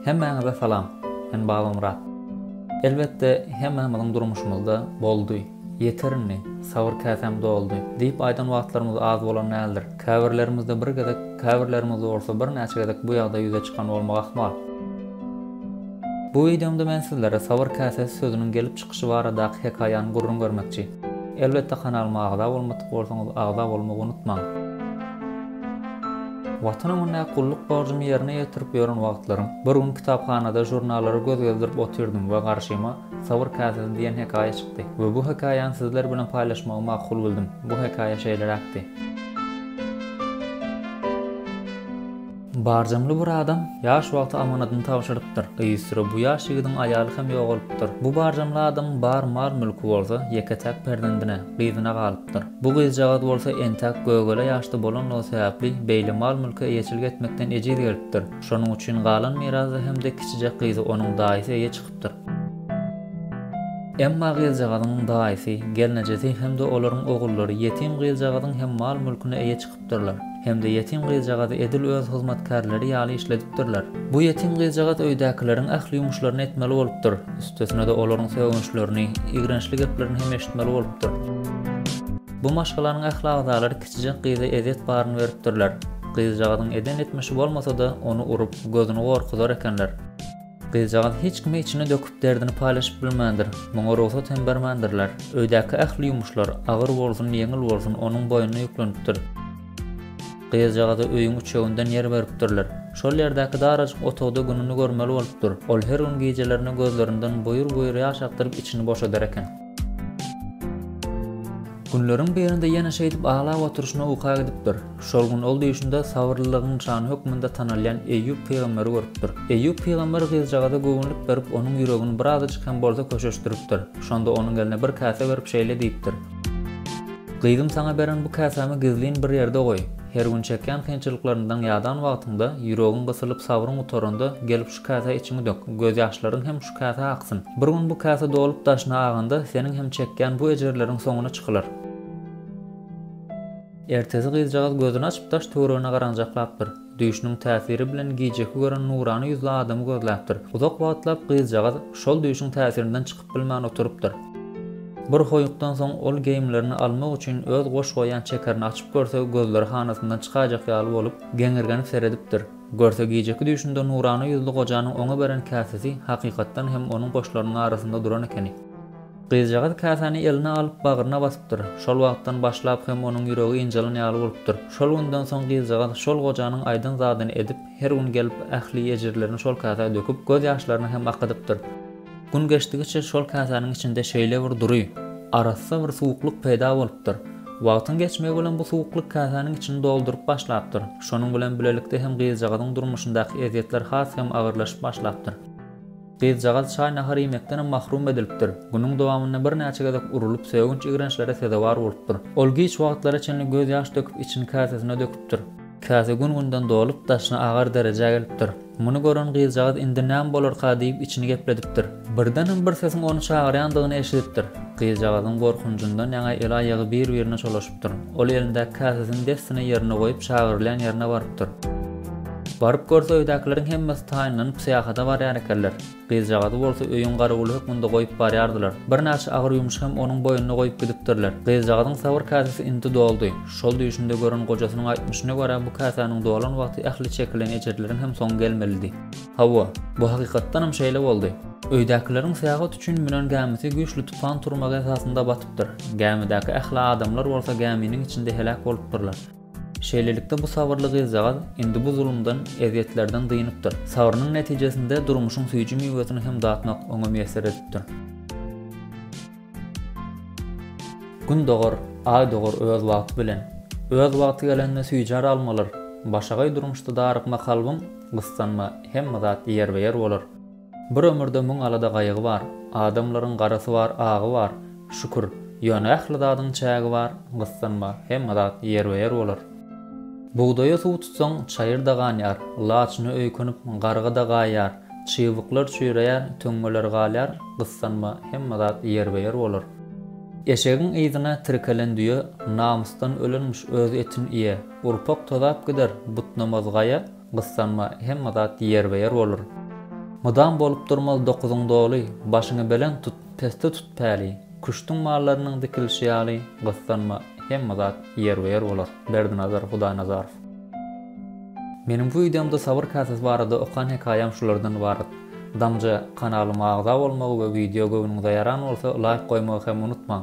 Hemmäňize salam. Men Babamyrat. Elbetde hemmämiziň durmuşymyzda boldy, Ýeter indi, sabyr käsäm doldy! diýip aýdan wagtlarymyz az bolan däldir. Käbirlerimizde bir gezek, käbirlerimizde bolsa birnäçe gezek bu ýagdaý ýüze çykan bolmak ahmal. Bu wideomda men sizlere sabyr käsäsi sözüniň gelip çykyşy baradaky hekaýany gürrüň bermekçi. Elbetde kanalyma agza bolmadyk bolsaňyz agza bolmagy unutmaň. Watan öňündäki gulluk borjumy ýerine ýetirip ýören wagtlarym, bir gün kitaphanada žurnallara göz gezdirip otyrdym we garşyma Sabyr käsesi diýen hekaýa çykdy we bu hekaýany sizler bilen paýlaşmagy makul bildym. Bu hekaýa şeýleräkdi. Barjamly bir adam ýaş wagty amanadyny tabşyrypdyr. Yzysüre bu ýaş ýigidiň aýaly hem ýogalypdyr. Bu barjamly adamyň bar mal-mülki bolsa ýeke-täk perzendine, gyzyna galypdyr. Bu gyzjagaz bolsa entäk gögele ýaşda bolanlygy sebäpli beýle mal-mülke eýeçilik etmekden ejiz gelipdir. Şonuň üçin galan mirasda hem-de kiçijek gyzy onuň daýysy eýe çykypdyr. ýatypdyr. Emma gyzjagazyň daýysy, gelnejesi hem-de olaryň ogullary ýetim gyzjagazyň hem mal-mülküne eýe çykypdyrlar hem-de ýetim gyzjagazy edil öz hyzmatkärleri ýaly işledipdirler. Bu ýetim gyzjagaz öýdäkileriň ähli ýumuşlaryny etmeli bolupdyr, üstesine-de olaryň sögünçlerini, ýigrençli geplerini hem eşitmeli bolupdyr. Bu maşgalanyň ähli agzalary kiçijek gyza ezýet baryny beripdirler. Gyzjagazyň eden etmişi bolmasa-da, ony urup, gözüni gorkuzar ekenler. Gyzjagaz hiç kime içini döküp derdini paýlaşyp bilmändir. Muňa rugsat hem bermändirler. Öýdäki ähli ýumuşlar, agyr bolsun, ýeňil bolsun, onuň boýnuna ýüklenipdir. Gyzjagaza öýüň üçeginden ýer beripdirler. Şol ýerdäki darajyk otagda gününi görmeli bolupdyr. Ol her gün gijelerine gözlerinden buýur-buýur ýaş akdyryp içini boşadar eken. Günleriň birinde ýene şeýdip aglap oturyşyna uka gidipdir. Şol gün ol düýşünde sabyrlylygyň nyşany hökmünde tanalýan Eýýup pygamber görüpdir. Eýýup pygamber gyzjagaza göwünlik berip, onuň ýüregini birazajyk hem bolsa köşeşdiripdir. Şonda onuň eline bir käse berip şeýle diýipdir. Gyzym saňa beren bu käsämi gizlin bir ýerde goý. Her gün çekýän kynçylyklaryndan ýadan wagtyňda, ýüregiň gysylyp sabryň gutaranda gelip Käsä içiňi dök, gözýaşlaryň hem şu käsä aksyn. Bir gün bu käse dolup daşyna aganda, seniň hem çekýän bu ejirleriň soňuna çykylar. Ertesi gyzjagaz gözüni açyp daş-töweregine garanjaklapdyr. Düýşüniň täsiri bilen gijeki gören nurana ýüzli adamy gözläpdir. Uzak wagtlap gyzjagaz şol düýşüň täsirinden çykyp bilmän oturypdyr. Bir hoýukdan soň ol geýimlerini almak üçin öz goş goýan çekerini açyp görse, gözleri hanasyndan çykaýjak ýaly bolup, geňirgenip seredipdir. Görse gijeki düýşünde nurana ýüzli gojanyň oňa beren käsesi hakykatdan hem onuň goşlarynyň arasynda duran ekeni. Gyzjagaz käsäni eline alyp bagryna basypdyr. Şol wagtdan başlap hem onuň ýüregi ynjalan ýaly bolupdyr. Şol günden soň gyzjagaz şol gojanyň aýdan zadyny edip, her gün gelip ähli ejirlerini şol käsä döküp, göz ýaşlaryny hem akydypdyr. Gün geçdigiçe şol käsäniň içinde şeýle bir dury, arassa bir suwuklyk peýda bolupdyr. Wagtyň geçmegi bilen bu suwuklyk käsäniň içini dolduryp başlapdyr. Şonuň bilen bilelikde hem gyzjagazyň durmuşyndaky ezýetler has hem agyrlaşyp başlapdyr. Gyzjagaz çaý-nahar iýmekdenem mahrum edilipdir. Günüň dowamynda birnäçe gezek urulyp, sögünç ýigrençlere sezewar bolupdyr. Ol giç wagtlara çenli gözýaş döküp içini käsesine döküpdir. Käse gün-günden dolup, daşyna agar derejä gelipdir. Muny gören gyzjagaz indi näme bolarka diýip içini gepledipdir. Birdenem bir sesiň ony çagyrýandygyny eşidipdir. Gyzjagazyň gorkunjyndan ýaňa el-aýagy bir-birine çolaşypdyr. Ol elindäki käsesini dessine ýerine goýup çagyrylýan ýerine barypdyr. Baryp görse öýdäkileriň hemmesi taýynlanyp syýahata barýar ekenler. Gyzjagazy bolsa öýüň garawuly hökmünde goýup barýardylar. Birnäçe agyr ýumşy hem onuň boýnuna goýup gidipdirler. Gyzjagazyň sabyr käsesi indi doldy. Şol düýşünde gören gojasynyň aýtmyşyna görä, bu käsäniň dolan wagty ähli çekilen ejirleriň hem soňy gelmelidi. Hawa, bu hakykatdanam şeýle boldy. Öýdäkileriň Sähut üçin münen gämisi güýçli tupan turmagy esasynda batypdyr. Gämidäki ähli adamlar bolsa gäminiň içinde heläk bolupdyrlar. Şeýlelikde bu sabyrly gyzjagaz indi bu zulumdan, ezýetlerden dynypdyr. Sabrynyň netijesinde durmuşyň süýji miwesini hem datmak oňa miýesser edipdir. Gün dogar, aý dogar öz wagty bilen. Öz wagty gelende süýjär almalar. Başagaý durmuşda darykma kalbyň, gyssanma, hemme zat ýerbe-ýer bolar. Bir ömürde müň alada-gaýgy bar, Adamlaryň garasy bar, agy bar, Şükür, ýöne ähli zadyň çägi bar, Gyssanma, hemme zat ýerbe-ýer bolar. Bugdaýa suw tutsaň, çaýyr-da ganýar, Laçyna öýkünip, garga-da gaýýar, Çybyklar çüýreýär, töňňeler galýar, Gyssanma, hemme zat ýerbe-ýer bolar. Eşegiň yzyna tirkelen düýe, Namysdan ölenmiş öz etin iýe, Urpak tozap gider, butnamaz gaýa, Gyssanma, hemme zat ýerbe-ýer bolar. Mydam bolup durmaz dokuzyň doly, Başyňy belent tut, pesde tut päli. Küştüň mallarynyň dikilişi ýaly, Gyssanma, hemme zat ýerbe-ýer bolar. Berdinazar Hudaýnazarow. Meniň bu wideomda sabyr käsesi barada okan hekaýam şulardan ybarat. Damja kanalyma agza bolmagy we wideo göwnüňize ýaran bolsa laýk goýmagy hem unutmaň.